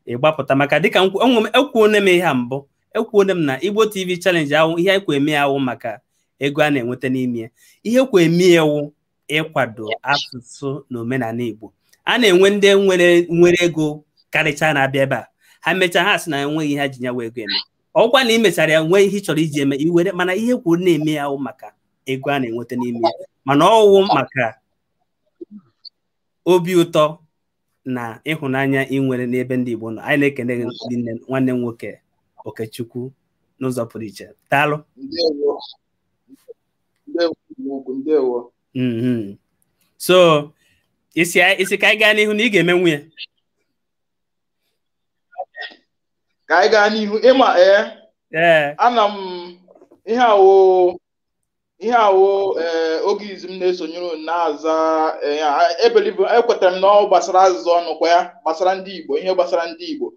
ị gbapụta maka dịka m kwu- enwe m- ekwuone m ihe a mbụ ekwuone m na igbo tv challenge ahụ ihe e kwo eme ya awụ maka ego a na-enweta n'ime ya ihe e kwo eme ya wụ ịkwado asụsụ na omenala Igbo a na-enwe ndị nwere nwere ego karịcha na-abịa ebe a ha mechaa ha sị na enweghị ihe ha ji nya wụ ego eme ọ kwa na ị mechara ya nwee ihe ị chọrọ iji eme i were mana ihe e kworo na-eme ya awụ maka ego a na-enweta n'ime ya mana ọ wụ maka obi ụtọ na ịhụnanya ị nwere n'ebe ndị Igbo nọ anyị na-ekene gị ndị nne nwanne m nwoke Okechukwu n'ụzọ pụrụ iche daalụ mm-hmm. so ị sị ka anyị gaa n'ihu na ị ga-emenwu ya ka anyị gaa n'ihu ị ma ee eh, ana m ihe a wụ ihe a wụ eh, oge izizi m na-esonyere na-aza eh, I believe ekwetara m na ọ gbasara ajụjụ ọnụ kwa ya gbasara ndị Igbo ihe gbasara ndị Igbo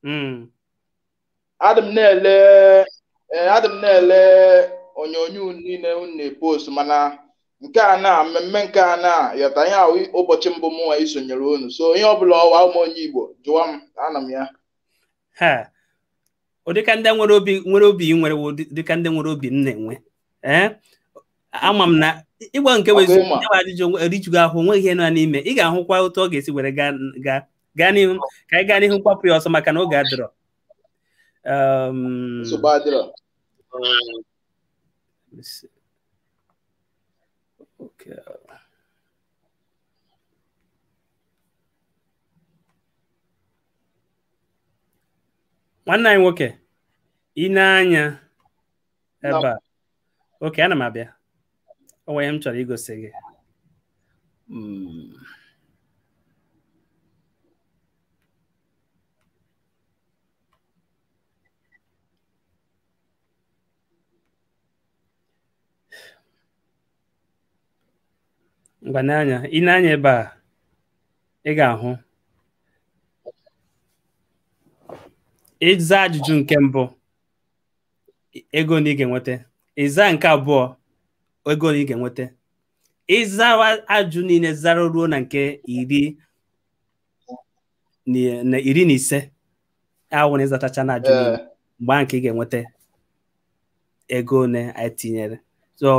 hmm. adị m na-ele eh, adị m na-ele onyonyo niile unu na-epost mana nke a na mmemme nke a na yọta ihe a wụ ụbọchị mbụ mụnwa isonyere unu so ihe ọbụla ọ wụ awụ m onye Igbo jụọ m ana m ya ụdịka ndị nwere obi nwere obi nwere dịka ndị nwere obi m na-enwe eh? ama m na ịgba nke bụ eziokwu ajụjụ erijughị ahụ nweghị ihe nọ n'ime ị ga-ahụkwa otu ọ ga-esi were gaa gaa n'ihu ka anyị gaa n'ihu gbapụ ya ọsọ maka na oge adịrọ Um, nsogbu adịrọ let's see. Okay. nwanne anyị nwoke i nee anya ebe a okay ana m abịa o nwere ihe m chọrọ igosi gị Mm. ngwa nee anya i nee anya ebe a ị ga-ahụ ị zaa ajụjụ nke mbụ ego ole ị ga-enweta ị zaa nke abụọ ego ole ị ga-enweta ị zawa ajụjụ niile zara ruo na nke iri na iri na ise ọ wụ na ị zatachana ajụjụ niile mgbe ahụ ka ị ga-enweta ego ole anyị tinyere so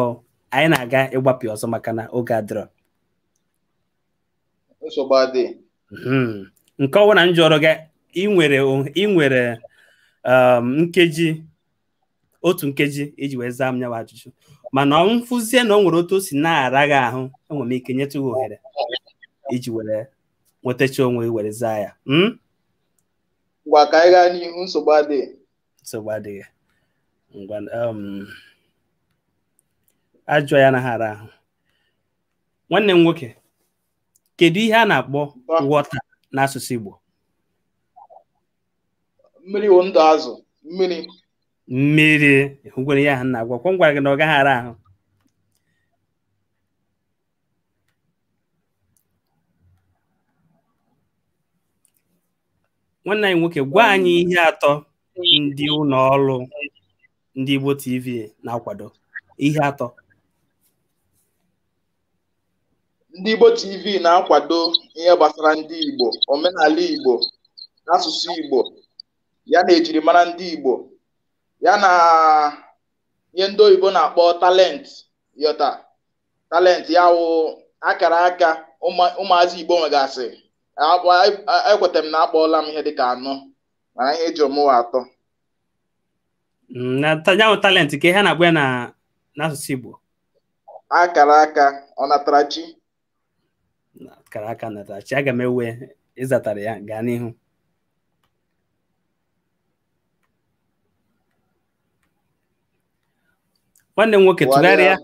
anyị na-aga ịgbapụ ya ọsọ maka na oge adịrọ nsogbu adịghị Hmm. nke ọwụna m jụrụ gị ị nwere o- ị nwere um, nkeji otu nkeji iji wee zaa m nya wụ ajụjụ mana m fụzie na o nwere otu o si na-ara gị ahụ enwere m ike nyetụ gị ohere iji were nwetacha onwe gị were zaa ya Hmm? ngwa ka anyị gaa n'ihu nsogbu adịghị nsogbu adịghị ngwa um, ajụjụ ya anaghị ara ahụ nwanne m nwoke kedu ihe a na-akpọ water n'asụsụ Igbo mmiri wụ ndụ azụ mmiri mmiri ngwa ihe ahụ m na-agwa ọkwa m gwara gị na ọ gaghị ara ahụ nwanne anyị nwoke gwa anyị ihe atọ ndị ụlọ ọrụ ndị Igbo TV na-akwado ihe atọ ndị Igbo TV na-akwado ihe gbasara ndị Igbo omenala Igbo asụsụ Igbo ya na ejirimara ndị Igbo ya na ihe ndị oyibo na-akpọ talent yọta talent ya wụ akara aka ụmụazị Igbo nwegasị ekweta m na akpọọla m ihe dịka anọ mana ihe ị jụrụ m wụ atọ Mm, na ta- ya wụ talent kee ihe a na-akpọ ya n'asụsụ Igbo akara aka ọnatarachi akara aka ọnatarachi aga m ewe ị zatara ya gaa n'ihu nwanne m nwoke tụgharịa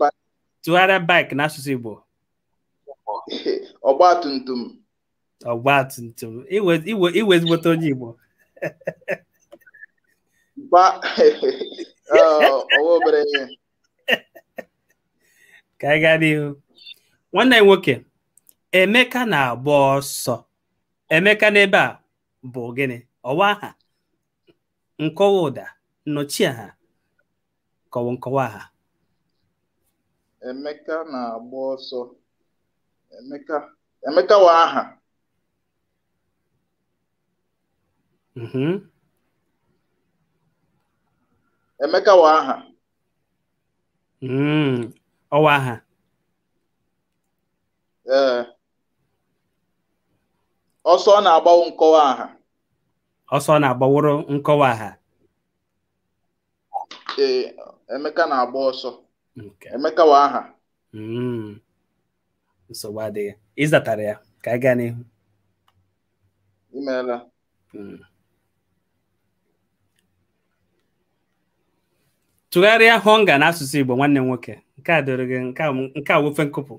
tụgharịa bike n'asụsụ Igbo ọgba tum tum ọgba tum tum ị wụ ị wụ ị wụ ezigbote onye Igbo ọ ọ wụ obere ihe ka anyị gaa n'ihu nwanne m nwoke Emeka na-agba ọsọ Emeka n'ebe a bụ gịnị ọ wụ aha nkọwa ụda nnọchiaha ka ọ wụ nkọwa aha Emeka na-agba ọsọ Emeka Emeka wụ aha Mhm. Emeka wụ aha Mm, ọ wụ aha ee ọsọ ọ na-agba wụ nkọwa aha ọsọ na-agba wụrụ nkọwa aha ee Emeka na-agba ọsọ Okay. Emeka wụ aha Mm. nsogbu adịghị ị zatara ya ka anyị gaa n'ihu i meela Mm. tụgharịa hunger n'asụsụ Igbo nwanne m nwoke nke a doro gị nke a nke a wofe nkụpụ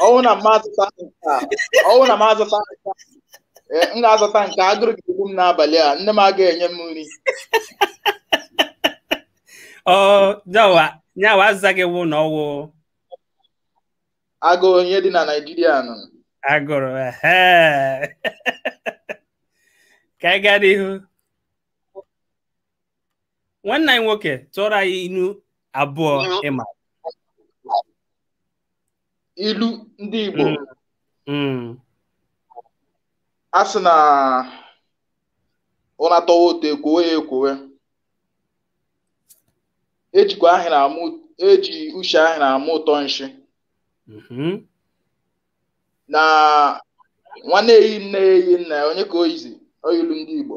ọ wụ na m azata nke a ọ wụ na m azata nke a m ga-azata nke a agụrụ ga-egbu m n'abalị a nne m agaghị enye m nri nya wụ azịza gị wụ na ọ wụ agụụ ihe dị na Naịjirịa nụ agụrụ ka anyị gaa n'ihu nwanne anyị nwoke tụọrọ anyị ilu abụọ ị ma ilu ndị Igbo a sị na ụra tọwa ụtọ e kwowe ya ekwowe e jikwa ahụrụ ama e ji ushi ahụrụ ama ụtọ nshi mm-hmm. na nwa na-eyi nne eyi nna ya onye ka o yizi ọ wụ ilu ndị Igbo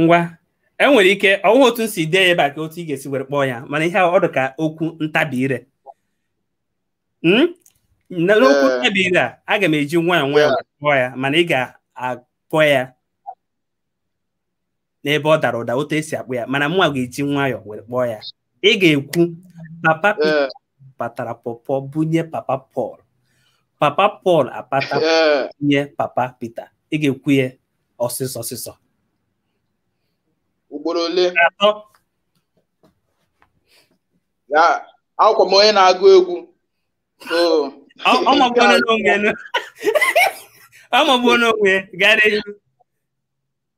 ngwa enwere ike ọ wụ otu m si dee ya ebe a ka otu ị ga-esi were kpọọ ya mana ihe ọ dị ka okwu ntabi ire hmm? n'okwu eh. ntabi ire a aga m eji nwayọọ nwayọọ kpọọ ya mana ị ga-akpọ ya n'ebe ọ dara ụda otu esi akpọ ya mana mụnwa ga-eji nwayọọ were kpọọ ya ị ga-ekwu papa Pita patara pọpọ bunye papa Pọl papa Pọl apata bunye papa Pita ị ga-ekwu ya ọsịsọ ọsịsọ ugboro ole atọ ya awụkwa m onye na-agụ egwu so ọ magbuola n'onwe ya ọmagbuo n'onwe ya gara ihu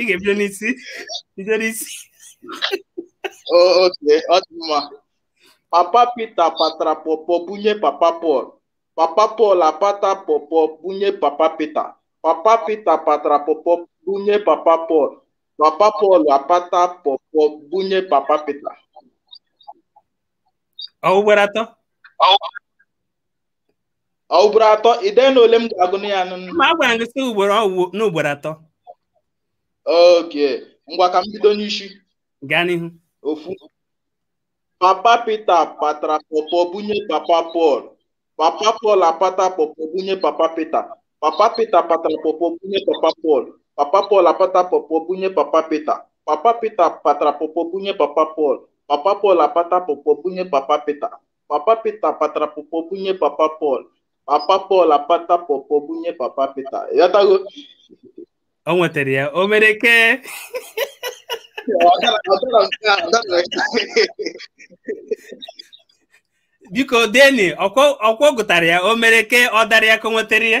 ị ga-ebido n'isi bido n'isi okay ọ dị mma papa Pita patara pọpọ bunye papa Pọl papa Pọl apata pọpọ bunye papa Pita papa Pita patara pọpọ bunye papa Pọl papa Pọl apata pọpọ bunye papa Pita ọ ugboro atọ ugboro atọ ide na ole m ga-agụ na ya nụ- ma a gwara gị sị ugboro ọ wụ n'ugboro atọ okay ngwa ka m bido n'isi gaa n'ihu ofu papa pita patara pọpọ bunye papa pọl papa pọl apata pọpọ bunye papa pita papa pita patara pọpọ bunye papa pọl papa pọl apata pọpọ bunye papa pita papa pita patara pọpọ bunye papa pọl papa pọl apata pọpọ bunye papa pita papa pita patara pọpọ bunye papa pọl papa pọl apata pọpọ bunye papa pita ị ghọtago o nwetara ya o mere ke biko deni ọ kwa ọ gụtara ya o mere ke ọ dara ya ka o nwetara ya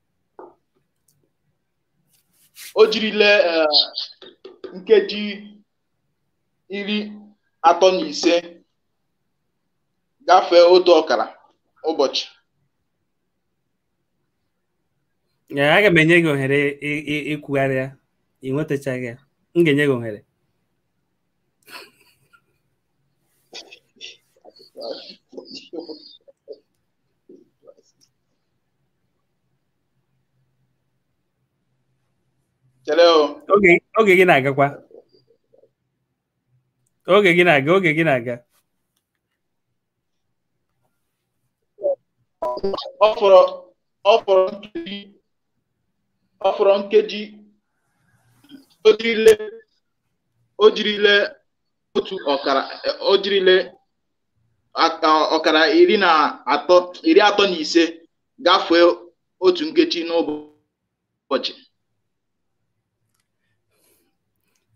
o jirile eh, nkeji iri atọ na ise gafee otu ọkara ụbọchị Ee, aga m enye gị ohere ị- ị- ikwugharị ya ị nwetachaghị ya m ga-enye gị ohere oge gị na-agakwa oge gị na-aga oge gị na-aga ọ fọrọ nkeji o jirile otu ọkara o jirile ọkara iri na atọ iri atọ na ise gafee otu nkeji n'ụbọchị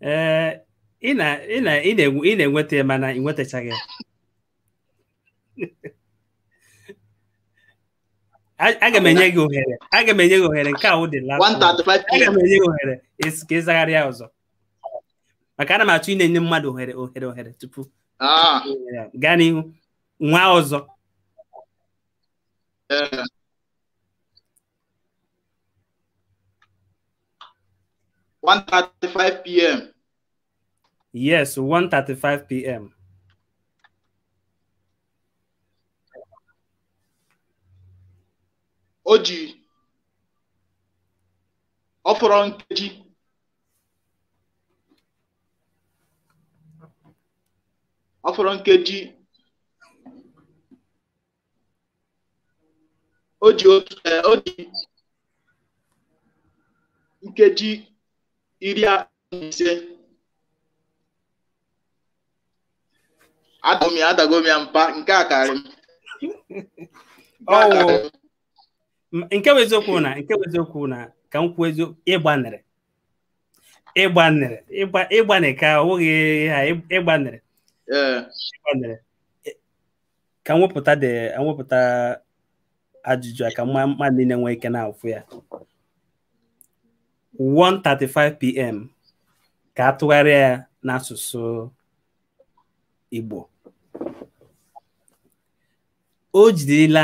ee ị na-enweta ya mana ị nwetachaghị ya aga m enye gị ohere aga m enye gị ohere nke a wụ the last aga m enye gị ohere ka ị zagharịa ọzọ maka ana m achọ ịna-enye mmadụ ohere ohere ohere tupu ah. gaa n'ihu nwaa ọzọ eh. One thirty-five p.m. Yes, one thirty-five p.m. O ji ọ fọrọ nkeji ọ fọrọ nkeji o ji otu eh, o ji nkeji iri atọ na ise adago m ya adago m ya mpa nke a karị m Nke a karị m. nke bụ eziokwu na nke bụ eziokwu na ka m kwuo eziokwu ị gbanịrị ị gbanịrị ị gbanịrị ka ọ bụghị ha ị gbanịrị ị gbanịrị ka m wepụta dị wepụta ajụjụ a ka mmadụ niile nwee ike na-afụ ya 1:35 pm ka a tụgharịa ya n'asụsụ Igbo o jirila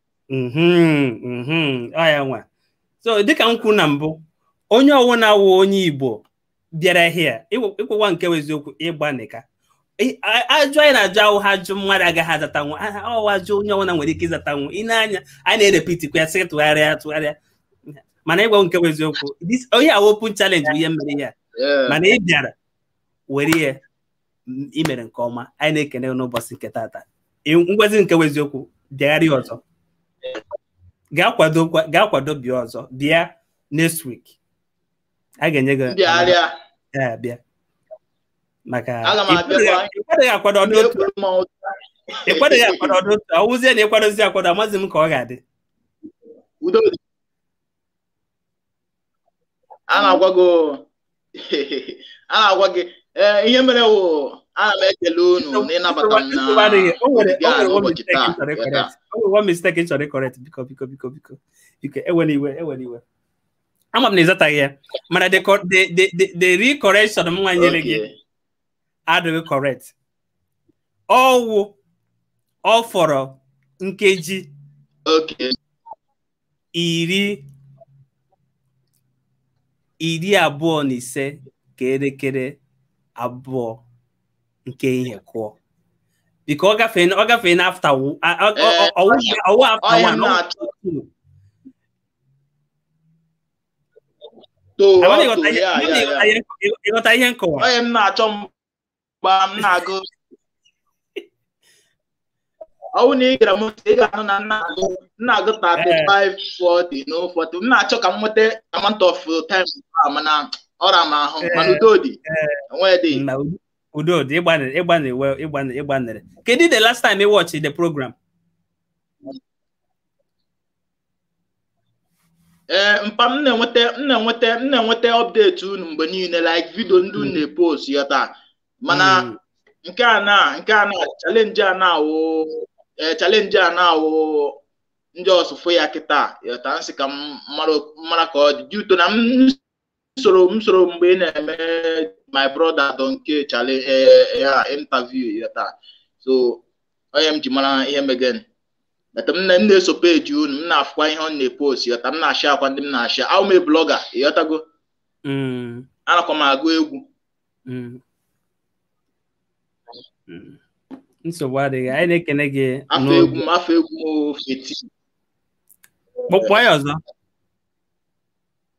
ọ ya nwa so dịka m kwuru na mbụ onye ọwụna wụ onye igbo bịara here ịgwakwa nke wụ eziokwu ị gbanịka ajụjụ anyị na-ajụ awụghị ajụjụ mmadụ agaghị azatanwu ọ wụ ajụjụ onye ọwụna nwere ike ịzatanwu ị na-anụ ya a na-erepitikwa ya sị tụgharịa tụgharịa mana ịgwa nke wụ eziokwu onye a wụ open challenge bụ ihe m mere ya mana ị bịara were ya i mere nke ọma anyị na-ekene gị n'ụbọchị nke tata Ị- m gwazie nke bụ eziokwu bịagharịa ọzọ gaa kwado kwa- gaa kwado bịa ọzọ bịa next week a ga-enye gị m bịagharịa ya abịa maka Aga m abịa ị kwadoghị- kwa- ị kwadoghị akwado ọ dị otu a na-ekwuru m ọtụ. ị kwadoghị akwado ọ dị otu a ọ wụzie na ị kwadozie akwado amaghịzi m ka ọ ga-adị udo dị a na-agwa gị a na-agwa gị ee ihe mere wụ ana m ekele unu na ịnabata m na ụbọchị taa one mistake m chọrọ ịcorrect biko biko biko biko biko ewela iwe ewela iwe ama m na ị zataghị ya mana the recorrection m nwa nyere gị adịghị correct ọ wụ ọ fọrọ nkeji iri iri abụọ na ise ka elekere abụọ nke ehihie kụọ biko ọ gafee ọ gafee na after ọ wụ after one ị ghọta ihe nkọwa mgbe m na-agụ ọ wụ na ị gere m ntị ị ga-anụ na m na-agụ na-agụ 35 40 na ụfọdụ m na-achọ ka m nweta amount of time a mana ọ ra m ahụ mana udo dị enweghị dị na udo- udo dị ị gbanịrị ị gbanịrị well, ị gbanịrị ị gbanịrị kedu the last time ị watch the program ee eh, mpa m na-enweta m na-enweta m na-enweta update unu mgbe niile like video ndị unu hmm. na-epost ị ghọta mana hmm. nke a na nke a na challenge a na-awụ eh, challenge a na-awụ ndị ọsụfụ ya kịta ị ghọta m sị ka m mara ka ọ dị due to na m soro m soro mgbe ị na-eme my brother Donkee Charlie interview ị ghọta so ọ ihe m ji mara ihe megen but m na-eso page unu m na-afụkwa ihe ọ na-epost ị ghọta m na-asharekwa ndị m na-ashare awụ m blogger ị ghọtago mm. anakwa m agụ egwu mm. Mm. nsogbu adịghị anyị na-ekene gị afa egwu m afa egwu m feti kpọkwa ya ọzọ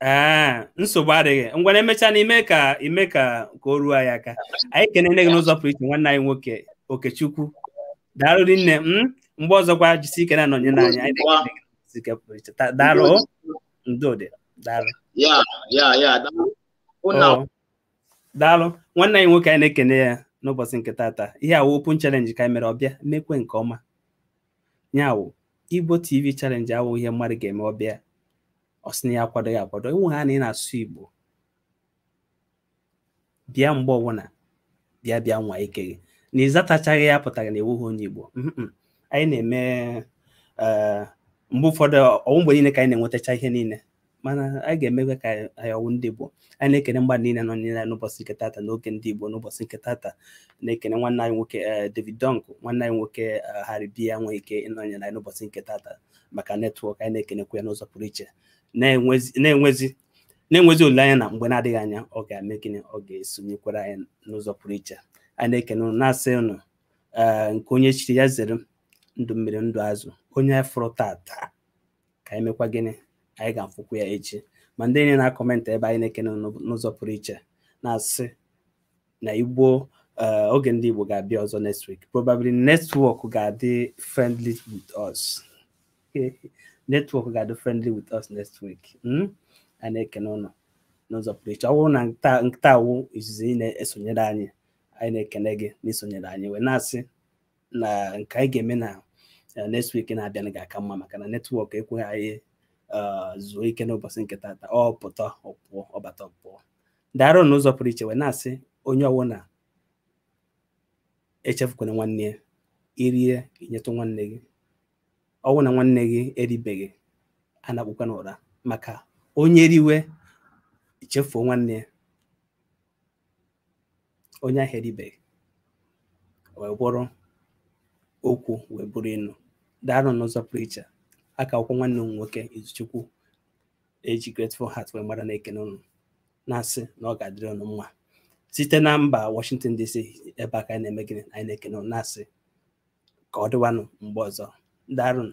ee nsogbu adịghị ngwanụ emecha n'ime ka ime ka ka o ruo anyị aka anyị ekene gị n'ụzọ pụrụ iche nwanne anyị nwoke okechukwu daalụ rinne m mgbe ọzọkwa jisi ike na-anọnyere anyị anyị na-ekele gị n'ụzọ ike pụrụ iche Ta- daalụ o. udo dị daalụ ya ya ya daalụ. Hụ na Oo. daalụ nwanne anyị nwoke anyị na-ekene ya n'ụbọchị nke tata ihe a wụ open challenge ka anyị mere ọ bịa mekwe nke ọma ya wụ igbo tv challenge awụ ihe mmadụ ga-eme ọ bịa ọ sị na ya akwadoghị akwado ọ wụhaa na ị na-asụ igbo bịa mgbe ọbụla bịa bịa nwaa ike gị na ị zatachaghị ya apụtaghị na ị wụghị onye igbo anyị na-eme eh, mgbe ụfọdụ ọ wụ mgbe niile ka anyị na-enwetacha ihe niile mana anyị ga-emekwa ka anyị ọwụ ndị Igbo anyị na-ekene mmadụ niile nọ niile n'ụbọchị nke tata n'oge ndị Igbo n'ụbọchị nke tata na-ekene nwanne anyị nwoke eh, David Dunk nwanne anyị nwoke eh, Harry B enweghị ike ịnọnyere anyị n'ụbọchị nke tata maka netwọk anyị na-ekenekwa ya n'ụzọ pụrụ iche na-enwezi na-enwezi olileanya na mgbe na-adịghị anya ọ ga-eme gịnị ọ ga-esonyekwara anyị n'ụzọ pụrụ iche a na-ekene ụnụ na-asị ụnụ nke onye chiri ya zere ndụ mmiri ndụ azụ onye fụrụ tata ka anyị mekwa gịnị anyị ga-afụkwu ya echi ma ndị niile na-akọmentị ebe anyị na-ekene n'ụzọ pụrụ iche na-asị na Igbo eh, oge ndị Igbo ga-abịa ọzọ next week probably netwọk ga-adị friendly with us netwọk ga-adị friendly with us next week hmm? a na-ekene ụnụ n'ụzọ pụrụ iche ọ bụrụ na taa wụ izizi ị na-esonyere anyị anyị na-ekene gị n'isonyere anyị wee na-asị na nke anyị ga-eme na eh, next week na-abịa ga-aka mma maka na netwọk ekweghị anyị eh, zuo ike n'ụbọchị nke tata ọ pụta ọ pụọ ọ bata ọ pụọ daarụ n'ụzọ pụrụ iche wee na-asị onye ọwụna echefukwana nwanne ya i rie i nyetụ nwanne gị ọ wụ na nwanne gị eribeghị anakpukwana ụra maka onye riwe chefuo nwanne ya onye ahụ eribeghị wee bụrụ okwu wee bụrụ inu daarụ n'ụzọ pụrụ iche ọ ka wụkwa nwanne ụnụ nwoke Izuchukwu e ji Grateful Heart wee mara na-ekene ụnụ na-asị na ọ ga-adịrị ụnụ mma site na mba Washington DC ebe a ka anyị na-eme gịnị anyị na-ekene ụnụ na-asị ka ọ dịwanụ mgbe ọzọ daarụnụ